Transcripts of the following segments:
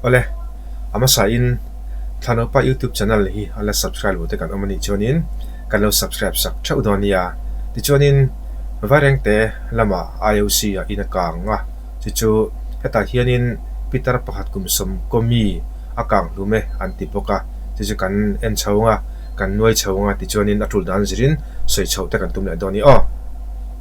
Awle a hmasa in thla naupa youtube channel hi ala subscribe lo te kan awm anih chuan in kan lo subscribe sak theuh dawn nia tichuan in vaireng te lama ioc a in a kang a chu chu hetah hian in pitar pakhat kum sawm kawmi a kang hlum e an ti bawk a chu chu kan en chho anga kan nuai chho anga tichuan in a tul dan zir in sawi chho te kan tum leh dawn ni aw.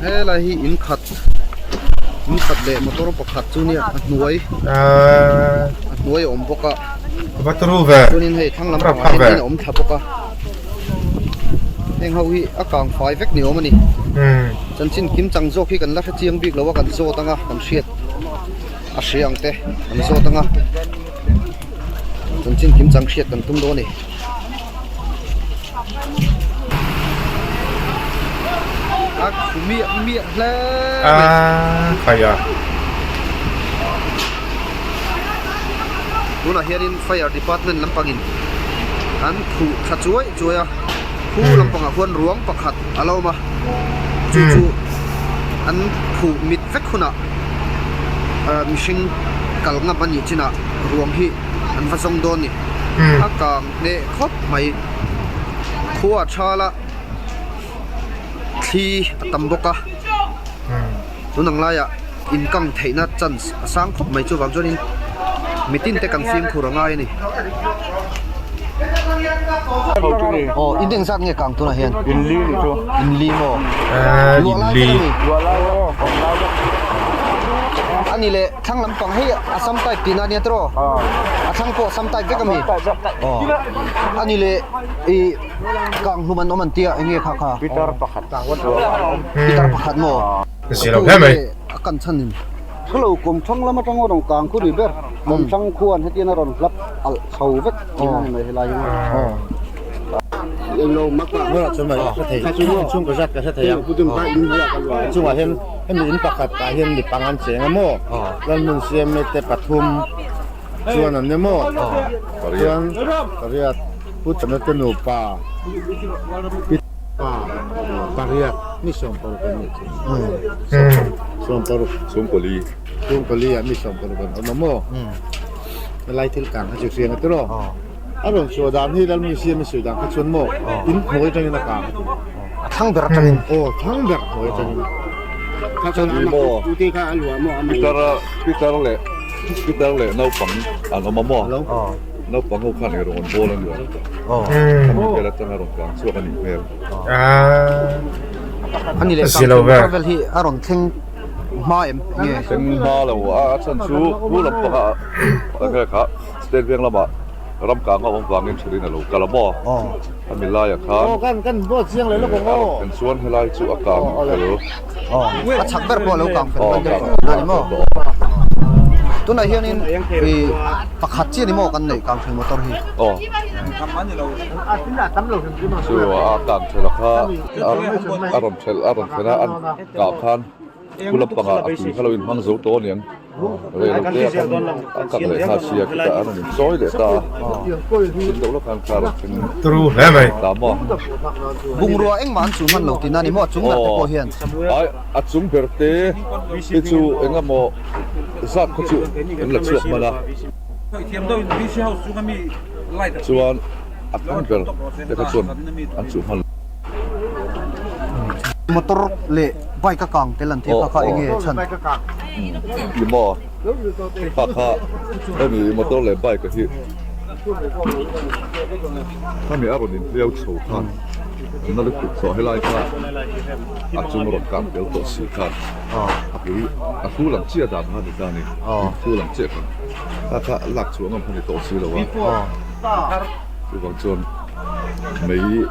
Helai hi in khat in khat leh motor pakhat chu nia a hnuai a hnuai a awm bawk a chuanin hei thlang lam pangah hian in a awm thla bawk a heng ho hi a kang fai vek ni awm a ni chanchin kim chang zawk hi kan la hre chiang bik lo a kan zawt ang a kan hriat a hria ang te kan zawt ang a chanchin kim chang hriat kan tum dawn a ni. tunah hianin fire department lampangin an phuh thla chuai chuai a khu lampangah khuan ruang pakhat a lo awm a chu chu an phuh mit vek hunah mihring kal ngam anih chinah ruang hi-- an va zawng dawn ni a kang hle khawp mai khua a thal a thli a tam bawk a tun ang lai ah in kang theih na chance a sang khawp mai chuvang chuan in mitin te kan fim khur a ngai a ni aw in eng zat nge kang tunah hian in li ni chu in li maw luah lai vek a ni luah lai vek a ni leh. Thlang lampang hi a sam type tihna ania tiraw? A thlang pawh a sam type vek a mi? A ni le, i kang hlum an awm an tia enge kha kha? Pitar pakhat sual a awm. Pitar pakhat maw? Ka zir lo hle mai. A kan chhan in. Hello, Kawmthlang lam atang aw dang kang khu ni ber. Kawmthlang khuan hetian a rawn hlap alh chho vek tihna a ni mai helai hi maw? Englo mak a. Hnuaiah chuan mah ka hre thei. Chhungkaw zat ka hre thei ang. Chungah hian. Hemi in pakhat ah hian mi pang an cheng a maw? Lalhmun CMA te pathum chuan an ne maw? Chuan pariat Puchana te nupa Pi pa pariat mi Sawmparuk an nih theih. Sawmparuk. Sawmpali. Sawmpali ah mi Sawmparuk an awm a maw? Helai thil tlang kha chu hriang a tir aw. A rawn chhuah dan hi Lalmui siam i sawi dan kha chuan maw in hnuai atangin a kang. A thlang ber atangin. Aw, thlang ber hnuai atangin. Kha chuan ama kha ute kha a luah maw a mei maw? Peter leh Peter leh naupang an awm a maw? Hello. Naupang ho khan i rawn rawn bawl a ni ang. Kha mi vel atanga rawn tlan chhuak a nih hmel. A ni leh sang thei Michael vel hi a rawn thleng hma em nge? Thleng hma lo a a chhan chu pu lampangah a vel kha. State Bank lama ram kanga awm vangin thurin a lo kal a maw? A milaia khan en chuan helai chu a kang fel awh a chak ber pawh a lo kang fel daih daih a ni maw? Tunah hianin ih pakhat chiah ni maw kan neih kang fel motor hi? Aw chu a kang fel a kha a rawn fel a rawn fel a an kah khan. Thu lam panga a tui kha lo in hmang zo tawh aniang. Reilote a kan a kak leh hla si a, khitah an rawn in sawi leh ta a. Thin deuh lawk hian car an rawn ta maw a. Bungrua engmah an chuh hman lo tina ni maw a chung ber te pawh hian. Ai a chung ber te te chu eng emaw zat khaw chu an la chhuak hman a. Chuan a chung ber te kha chuan an chuh hman lo. Motor leh bike a kang tel an tih kha kha eng nge chhan? Engkim aw, pa kha hemi motor leh bike hi hemi a rawn in hliau chho khan a na lutuk tawh helai kha a chung a rawn kang tel tawh si khan a pui a thu lam chiah dan kha a ni ta ni in thu lam chiah khan ta kha a lak chhuah ngam kha a ni tawh si lo a chuvang chuan mei--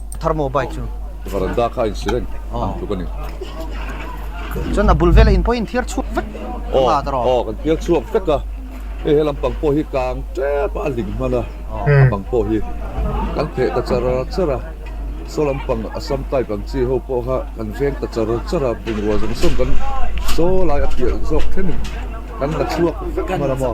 Thar maw bike chu? Varanda kha a insir reng ang tluk a ni. Chuan a bul vel a in pawh in thiar chhuak vek ka nga ta rawh. Aw kan thiar chhuak vek a. Hei he lampang pawh hi kang tep a a hlim hman a, a bang pawh hi kan pheh ta char char a. Saw lampang Assam type ang chi ho pawh kha kan veng ta char char a, bungrua zawng sawn kan saw lai a piah zawk thleng in kan la chhuak vek hman a maw.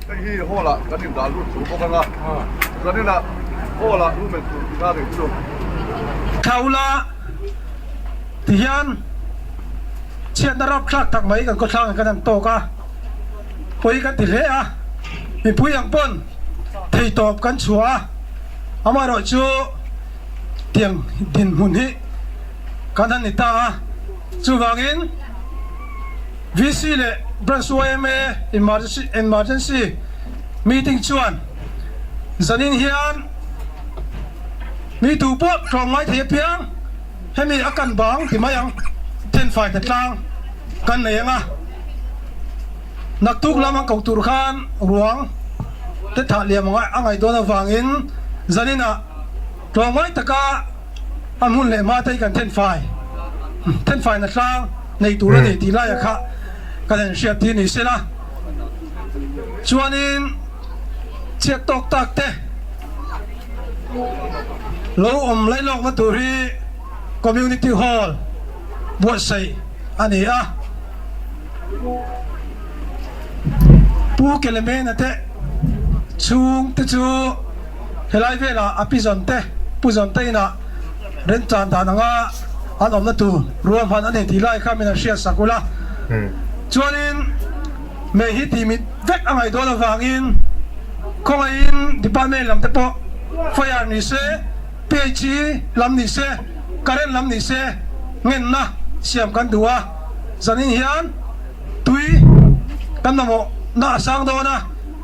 Hei hi hall ah kan in dah lut tur bawk anga zan in ah hall ah lumen tur tih na nei chu. Thla ula ti hian chhiatna rap thlak tak mai kan khawthlang in kan han tawk a, pawi kan ti hle a, mipui ang pawn thei tawp kan chhuah a, amaherawh chu tiang dinhmun hi kan han ni ta a, chuvangin. VC leh Branch YMA Emergency Meeting chuan zanin hian mi tu pawh tlawm ngai thei apiang, hemi a kan bang ti mai ang, Thenfai ta tlang kan nei anga naktuk lam an ko tur khan ruang te thah liam a ngaih dawn avangin zaninah tlawm ngai taka, a hmun leh hmateii kan thenfai thenfaina tlang nei tur a ni tih laia kha kan en hriat hi ni sela chuanin chhiat tawk tak te lo awm lai lawkna tur hi community hall buatsaih a ni a Pu Kelemena te chhungte chu Helai vela a pi zawn te, pu zawn te inah rent tlan dan anga an awmna tur rual hman a ni tih lai kha min han hriat sak ula. Chuanin mei hi tih mit vek a ngaihdawn avangin khawngaihin department lam te pawh fire ni se, PHC lam ni se, current lam ni se ngenna siam kan duh a, zanin hian tui kan mamawhna a sang dawn a.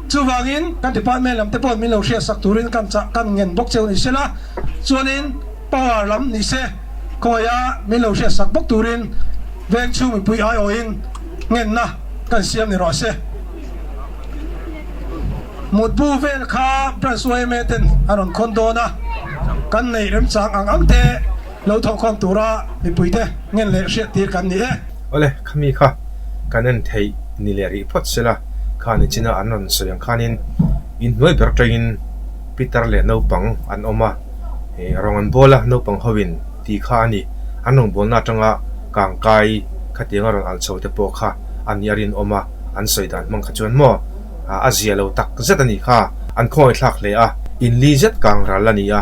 Chuvangin, ka department lam te pawh min lo hria sak turin kan chah kan ngen bawk cheu ni sela, chuanin power lam ni se khawiha min lo hria sak bawk turin veng chhung mipui aiawhin ngenna kan siam ni ruah se. Mutbu vel kha branch yma ten an rawn khawn dawn a, kan neih remchang ang ang te. Lo tho khawm tura mipuite ngen leh hriat tir kan ni e. Awle, khami kha kan en theih ni leh rih phawt se la, kha nichina an rawn sawi ang khanin in hnuai ber tawngin Peter leh naupang an awm a, eh rawn an bawl a, naupang hoin ti kha a ni. An rawn bawlna atanga kang kai khatianga rawn alh chhote pawh kha a nih a rinawm a, an sawi dan hmang kha chuan maw a zia lo tak zet a ni kha an khawngaihthlak hle a, in li zet kang ral a ni a.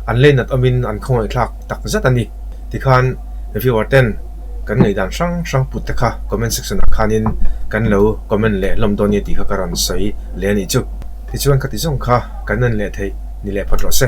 an leinat awmin an khawngaihthlak tak zat a ni ti khan viewer ten kan ngaidan hrang hrang put te kha comment section ah khanin kan lo comment leh hlawm dawn nia tih kha ka rawn sawi leh a nih chu. Tichuan khati zawng kha kan en leh theih ni leh phawt rawh se.